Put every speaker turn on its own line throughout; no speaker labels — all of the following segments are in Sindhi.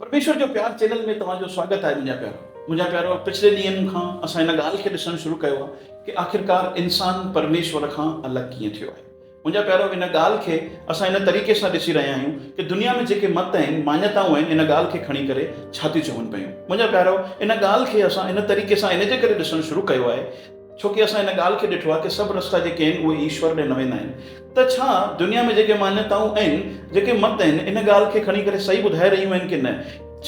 پرميشور جو پيار چينل ۾ توهان جو سواگت آهي منهنجا پيارا منهنجا پيارو پڇلي ڏينهن کان اسان ان ڳالهه کي ڏسڻ شروع ڪيو آهي ڪي آخرڪار انسان پرميشور کان الڳ ڪيئن ٿيو آهي منهنجا پيارو ان ڳالهه کي اسان ان طريقي سان ڏسي رهيا آهيون ڪي دنيا ۾ جيڪي مت آهن ماڃتائون آهن ان ڳالهه کي کڻي ڪري ڇا ٿيون چون پيون منهنجا پيارو ان ڳالهه کي اسان ان طريقي سان ان جي ڪري ڏسڻ شروع ڪيو آهي ڇو ڪي اسان ان ڳالهه کي ڏٺو آهي ڪي سڀ رستا جيڪي آهن اهي ايشور ڏي نه ويندا آهن ته ڇا دنيا ۾ جيڪي مانيتائون ۽ جيڪي مت آهن ان ڳالهه کي کڻي ڪري صحيح ٻڌائي رهيون آهن ڪي نه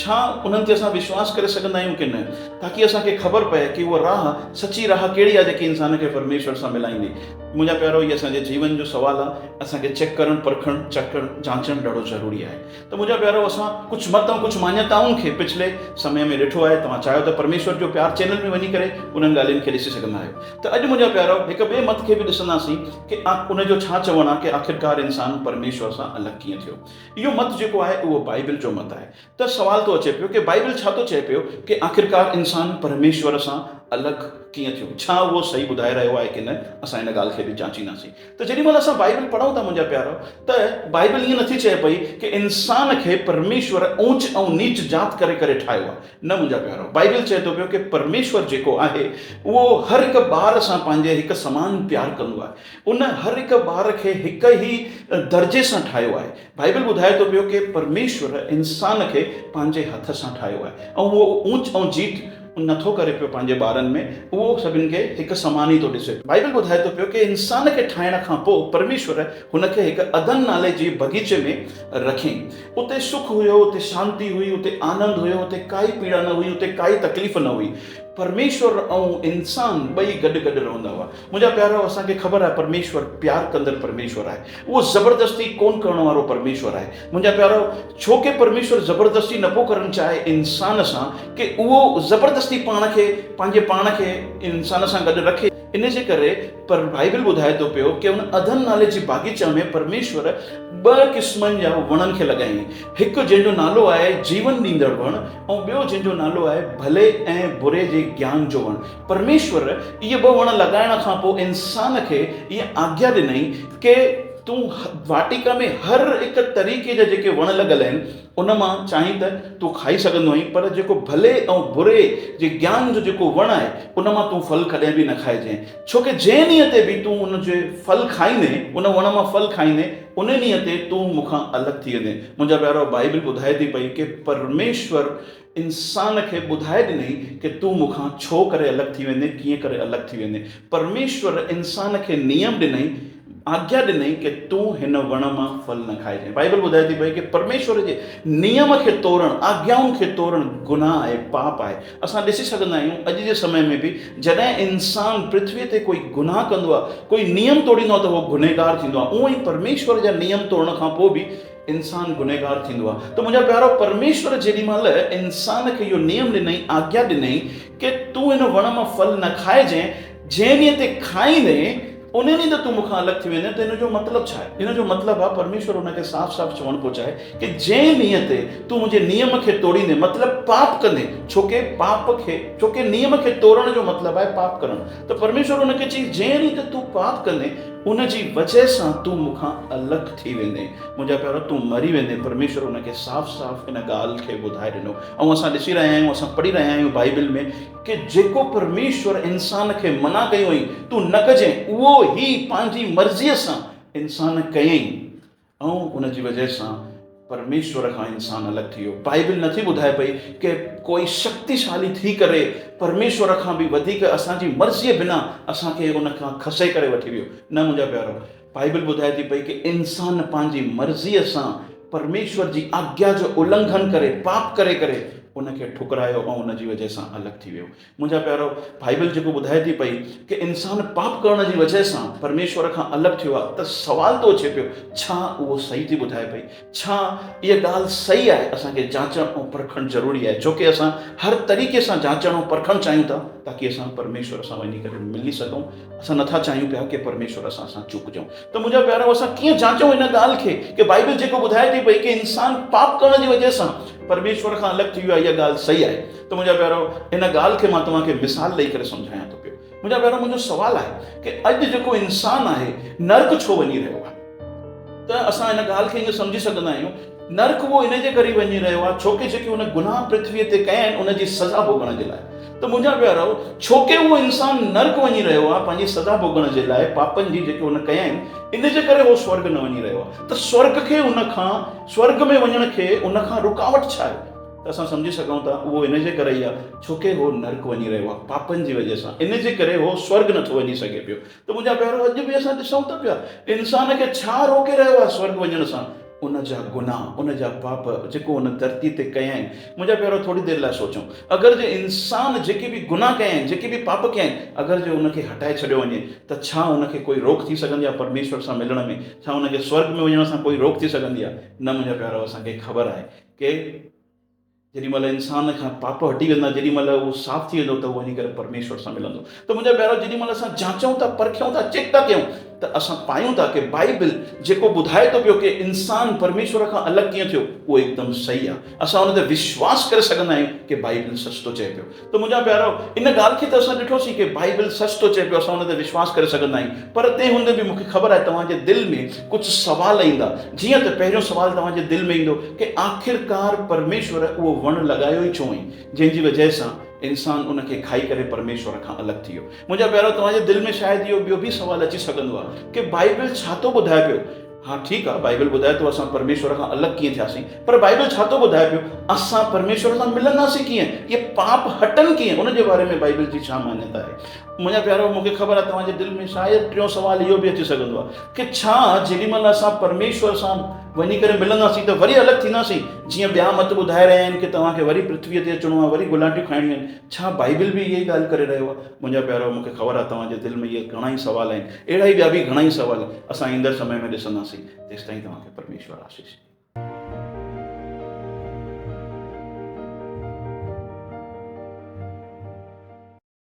ڇا انهن تي اسان وشواس ڪري سگهندا آهيون ڪي نه تاڪي اسان کي خبر پئي ڪي اها راهه سچي راهه ڪهڙي آهي جيڪي انسان کي پرميشور سان ملائيندي منهنجا پيارو هي اسان جي جيون جو سوال آهي اسان کي چيڪ ڪرڻ پرکڻ چڪڻ جانچڻ ڏاڍو ضروري آهي. ته منهنجا پيارو اسان ڪجهه مت ۽ ڪجهه ماڃتائن کي پڇلي سمي ۾ ڏٺو آهي توهان چاهيو ته پرميشور جو پيار چينل ۾ وڃي ڪري انهن ڳالهين کي ڏسي سگهندا آهيو ته اڄ منهنجا پيارو هڪ ٻئي مت کي به ڏسنداسين ڪي ان جو ڇا چوڻ آهي ڪي آخرڪار انسان پرميشور سان الڳ ڪيئن ٿيو اهو مت جيڪو آهي اهو بائبل جو مت آهي ته سوال ٿو اچي پيو ڪي بائبل ڇا ٿو چئي پيو ڪي آخرڪار انسان پرميشور سان الڳ ڪيئن ٿيو ڇا اهو صحيح ٻڌائي رهيو آهي ڪي نه اسان ان ڳالهه کي به جانچينداسين. ته جيڏي مهل اسان بائيبل پڙهون ٿا منهنجا پيارو ته بائيبل ائين نٿي چئي پئي ڪه انسان کي پرميشور اوچ ۽ نيچ جات ڪري ڪري ٺاهيو آهي نه منهنجا پيارو بائيبل چئي ٿو پيو ڪه پرميشور جيڪو آهي اهو هر هڪ ٻار سان پنهنجي هڪ سمان پيار ڪندو آهي ان هر هڪ ٻار کي هڪ ئي درجي سان ٺاهيو آهي. بائيبل ٻڌائي ٿو پيو ڪي پرميشور انسان کي پنهنجي هٿ سان ٺاهيو آهي ۽ هو اونچ ۽ جيت نه ٿو ڪري پيو پنهنجي ٻارن ۾ اهو سڀن کي هڪ سمان ئي ٿو ڏسي پيو بائيبل ٻڌائي ٿو پيو ڪي انسان کي ٺاهڻ کان پو پرميشور هن کي هڪ عدن نالي جي بغيچي ۾ رکين اتي سک هيو اتي شانتي هئي اتي آنند هيو اتي ڪائي پيڙا نه هئي اتي ڪائي تڪليف نه هئي پرميشور ۽ انسان ٻئي گڏ گڏ رهندا هئا منهنجا پيارو اسان کي خبر آهي پرميشور پيار ڪندڙ پرميشور آهي اهو زبردستي ڪونه ڪرڻ وارو پرميشور آهي منهنجا پيارو ڇو ڪي پرميشور زبردستي نه پيو ڪرڻ چاهي انسان سان ڪي اهو زبردستي پاڻ کي پنهنجي پاڻ کي انسان سان گڏ رکي ان جي ڪري پر بائيبل ٻڌائي ٿو پيو ڪي ان اڌن نالي جي باغيچا ۾ پرميشور ٻه قسمن جا وڻن کي لڳائين هڪ جنهن جو نالو آهي جيون ڏيندڙ وڻ ۽ ٻيو جنهن جو نالو آهي ڀلي ۽ بري جي گيان جو وڻ پرميشور اهي ٻه وڻ لڳائڻ کان پوء انسان کي اها آگيا ڏنائين ڪي تون واٽيڪا ۾ هر هڪ طريقي جا جيڪي وڻ لڳل آهن ان مان چاهين ته تون کائي سگهندو آهين پر جيڪو ڀلي ۽ بري جي گيان جو جيڪو وڻ آهي ان مان تون ڦل ڪڏهن به نه کائجين ڇو ڪي جنهن ڏينهن تي به تون ان جي ڦل کائيندين ان وڻ مان ڦل کائيندين ان ڏينهن تي تون مون کان الڳ ٿي ويندين منهنجا پيارو بائيبل ٻڌائي ٿي پئي ڪي پرميشور انسان کي ٻڌائي ڏنائين ڪي تون مون کان ڇو ڪري الڳ ٿي ويندين ڪيئن ڪري الڳ ٿي ويندين پرميشور انسان کي نيم ڏنائين آگيا ڏنائين ڪي تون هن وڻ مان ڦل نه کائجئين بائيبل ٻڌائي ٿي پئي ڪي پرميشور جي نيم کي تورڻ آگيائن کي تورڻ گناهه آهي پاپ آهي اسان ڏسي سگهندا آهيون اڄ جي سمي ۾ به جڏهن انسان پرٿوي تي ڪوئي گناهه ڪندو آهي ڪوئي نيم توڙيندو آهي ته هو گنهگار ٿيندو آهي اونئي پرميشور جا نيم توڙڻ کان پوء به انسان گنهگار ٿيندو آهي ته منهنجا پيارو پرميشور جيڏي مهل انسان کي اهو نيم ڏنائين آگيا ڏنائين ڪي تون هن وڻ مان ڦل نه کائجين جنهن ڏينهن تي کائيندين ان ڏينهن ته تون مون کان الڳ ٿي ويندين ته ان جو مطلب ڇا آهي ان جو مطلب آهي پرميشور ان کي صاف صاف چوڻ پيو چاهي ڪي جنهن ڏينهن تي تون منهنجي نيم کي توڙيندين مطلب پاپ ڪندين ڇوڪي پاپ کي ڇوڪي نيم کي توڙڻ جو مطلب آهي پاپ ڪرڻ ته پرميشور ان کي چيائين، جنهن ريت تون پاپ ڪندين، ان جي وجهه سان تون مون کان الڳ ٿي ويندين. منهنجا پيارو، تون مري ويندين. پرميشور ان کي صاف صاف ان ڳالهه کي ٻڌائي ڏنو. ۽ اسان ڏسي رهيا آهيون، اسان پڙهي رهيا آهيون بائبل ۾ ڪي جيڪو پرميشور انسان کي منع ڪيو هئائين، تون نه ڪجين، اهو هي پنهنجي مرضيء سان انسان ڪيائين. ۽ ان جي وجهه سان پرميشور کان انسان الڳ ٿي ويو. بائيبل نٿي ٻڌائي پئي ڪي ڪوئي شڪتيشالي ٿي ڪري پرميشور کان به وڌيڪ اسان جي مرضيء بنا اسان کي ان کان کسي ڪري وٺي ويو. نه منهنجا پيارو، بائيبل ٻڌائي ٿي پئي ڪي انسان پنهنجي مرضيء سان پرميشور جي آگيا جو النگهن ڪري، پاپ ڪري ڪري ان کي ٺڪرايو ۽ ان جي وجهه سان الڳ ٿي ويو. منهنجا پيارو، بائيبل جيڪو ٻڌائي ٿي پئي ڪي انسان پاپ ڪرڻ جي وجهه سان پرميشور کان الڳ ٿيو آهي ته سوال ٿو اچي پيو ڇا اهو صحيح ٿي ٻڌائي پئي؟ ڇا اها ڳالهه صحيح آهي؟ اسان کي جاچڻ ۽ پرکڻ ضروري آهي ڇو ڪي اسان هر طريقي سان جاچڻ ۽ پرکڻ چاهيون ٿا تاڪي اسان پرميشور سان وڃي ڪري ملي سگهون اسان نٿا چاهيون پيا ڪي پرميشور اسان سان چوڪجون ته منهنجا پيارو اسان ڪيئن جاچون ان ڳالهه کي ڪي بائيبل جيڪو ٻڌائي ٿي پئي ڪي انسان پاپ ڪرڻ جي وجهه سان پرميشور کان الڳ ٿي ويو آهي اها ڳالهه صحيح آهي ته منهنجا پيارو ان ڳالهه کي مان توهان کي مثال ڏئي ڪري سمجهايان ٿو پيو. منهنجا پيارو منهنجو سوال آهي ڪي اڄ جيڪو انسان آهي نرڪ ڇو وڃي رهيو آهي؟ ته اسان ان ڳالهه کي ائين سمجهي سگهندا آهيون نرڪ اهو ان جي ڪري وڃي رهيو آهي ڇوڪي جيڪي هن گناهه پرٿويء تي ڪيا آهن ان جي سزا ڀوڳڻ جي لاء ته منهنجا پيارو ڇوڪي اهو انسان نرڪ وڃي رهيو آهي پنهنجي سزا ڀوڳڻ جي لاء پاپن جي جيڪي هن ڪيا آهن ان جي ڪري اهو سورڳ نه وڃي رهيو آهي ته سورڳ کي ان کان سورڳ ۾ وڃڻ کي ان کان رڪاوٽ ڇا آهي؟ ته اسان سمجهي سگهون ٿا اهو ان جي ڪري ئي آهي ڇو ڪي هو نرڪ وڃي رهيو آهي پاپن جي وجهه سان ان جي ڪري هو سورگ نٿو وڃي سگهي پيو ته منهنجا پيارو اڄ به اسان ڏسون ته پيا انسان کي ڇا روڪي رهيو آهي سورگ وڃڻ سان ان جا گناهه ان جا پاپ جيڪو ان ڌرتي تي ڪيا آهن منهنجا پيارو ٿوري دير لاء سوچون اگر جي انسان جيڪي به گناهه ڪيا آهن جيڪي به پاپ ڪيا آهن اگر جي ان کي هٽائي ڇڏيو وڃي ته ڇا ان کي ڪوئي روڪ ٿي سگهندي آهي پرميشور سان ملڻ ۾ ڇا ان کي سورگ ۾ وڃڻ سان ڪوئي روڪ ٿي سگهندي آهي نه منهنجا پيارو اسان کي خبر آهي ڪي جيڏي مهل انسان کان پاپ هٽي ويندا جيڏي مهل اهو صاف ٿي ويندو ته اهو وڃي ڪري پرميشور سان ملندو ته منهنجا پيارو جيڏي مهل اسان جانچون ٿا پرکيون ٿا چيڪ ٿا ڪيون ته اسان پايون ٿا ڪي بائبل جيڪو ٻڌائي ٿو پيو ڪي انسان پرميشور کان الڳ ڪيئن ٿيو اهو هڪدم صحيح آهي اسان ان تي وشواس ڪري سگهندا آهيون ڪي بائبل سچ ٿو چئي پيو ته منهنجا پيارو! ان ڳالهه کي ته اسان ڏٺوسين ڪي بائيبل سچ ٿو چئي پيو، اسان ان تي وشواس ڪري سگهندا آهيون، پر تنهن هوندي به مون کي خبر آهي توهان جي دل ۾ ڪجهه سوال ايندا، جيئن ته پهريون سوال توهان جي دل ۾ ايندو ڪي آخرڪار پرميشور اهو وڻ لڳايو ئي ڇو ۽ جنهن جي وجهه سان انسان ان کي کائي ڪري پرميشور کان الڳ ٿي ويو. منهنجا پيارو! توهان جي دل ۾ شايد اهو ٻيو به سوال اچي سگهندو آهي ڪي بائيبل ڇا ٿو ٻڌائي پيو، ها ٺيڪ آ بائيبل ٻڌائي ٿو اسان پرميشور کان الڳ ڪيئن ٿياسين پر بائيبل ڇا ٿو ٻڌائي پيو اسان پرميشور سان ملنداسين ڪيئن اهي پاپ هٽن ڪيئن ان جي باري ۾ بائيبل جي ڇا مانيتا آهي منهنجا پيارو مون کي خبر آهي توهان جي دل ۾ شايد ٽيون سوال اهو به اچي سگهندو آهي ڪي ڇا جيڏي مهل اسان پرميشور سان وڃي ڪري ملنداسين ته وري الڳ ٿينداسين جيئن ٻيا مت ٻڌائي رهيا آهن ڪي توهان کي وري پرٿوي تي اچڻو آهي وري گلانٽيون کائڻيون آهن ڇا بائيبل به اهي ئي ڳالهه ڪري رهيو آهي منهنجا پيارو مون کي خبر آهي توهان جي دل ۾ اهي گهڻا ئي سوال آهن اهڙا ئي ٻيا به گهڻا ئي سوال اسان ايندڙ سمي ۾ ڏسنداسين تيستائين توهان کي پرميشور آسيس ڏي.